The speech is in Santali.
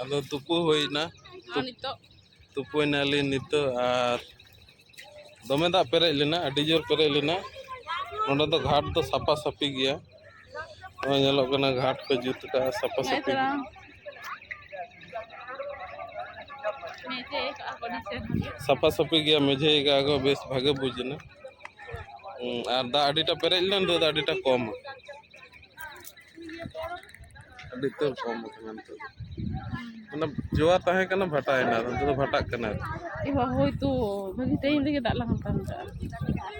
ᱟᱫᱚ ᱛᱩᱯᱩ ᱦᱩᱭᱱᱟ ᱟᱨ ᱱᱤᱛᱚᱜ ᱛᱩᱯᱩᱭᱱᱟᱞᱤᱧ ᱱᱤᱛᱚᱜ ᱟᱨ ᱫᱚᱢᱮ ᱫᱟᱜ ᱯᱮᱨᱮᱡ ᱞᱮᱱᱟ ᱟᱹᱰᱤ ᱡᱳᱨ ᱯᱮᱨᱮᱡ ᱞᱮᱱᱟ ᱱᱚᱸᱰᱮ ᱫᱚ ᱜᱷᱟᱴ ᱫᱚ ᱥᱟᱯᱷᱟ ᱥᱟᱹᱯᱷᱤ ᱜᱮᱭᱟ ᱱᱚᱜᱼᱚᱭ ᱧᱮᱞᱚᱜ ᱠᱟᱱᱟ ᱜᱷᱟᱴ ᱠᱚ ᱡᱩᱛ ᱠᱟᱜᱼᱟ ᱥᱟᱯᱷᱟ ᱥᱟᱹᱯᱷᱤ ᱜᱮᱭᱟ ᱥᱟᱯᱷᱟ ᱥᱟᱹᱯᱷᱤ ᱜᱮᱭᱟ ᱢᱮᱡᱷᱮ ᱠᱟᱜᱼᱟ ᱠᱚ ᱵᱮᱥ ᱵᱷᱟᱜᱮ ᱵᱩᱡᱽ ᱮᱱᱟ ᱟᱨ ᱫᱟᱜ ᱟᱹᱰᱤᱴᱟ ᱯᱮᱨᱮᱡ ᱞᱮᱱᱟ ᱱᱤᱛᱚᱜ ᱫᱚ ᱟᱹᱰᱤᱴᱟ ᱠᱚᱢ ᱟᱠᱟᱱᱟ ᱟᱹᱰᱤ ᱩᱛᱟᱹᱨ ᱠᱚᱢ ᱟᱠᱟᱱᱟ ᱱᱤᱛᱚᱜ ᱚᱱᱟ ᱡᱚᱣᱟ ᱛᱟᱦᱮᱸ ᱠᱟᱱᱟ ᱵᱷᱟᱴᱟᱭᱮᱱᱟ ᱱᱤᱛᱚᱜ ᱫᱚ ᱵᱷᱟᱴᱟᱜ ᱠᱟᱱᱟ ᱦᱳᱭᱛᱳ ᱵᱷᱟᱹᱜᱤ ᱴᱟᱭᱤᱢ ᱨᱮᱜᱮ ᱫᱟᱜ ᱞᱟᱜᱟᱣ ᱠᱟᱱᱟ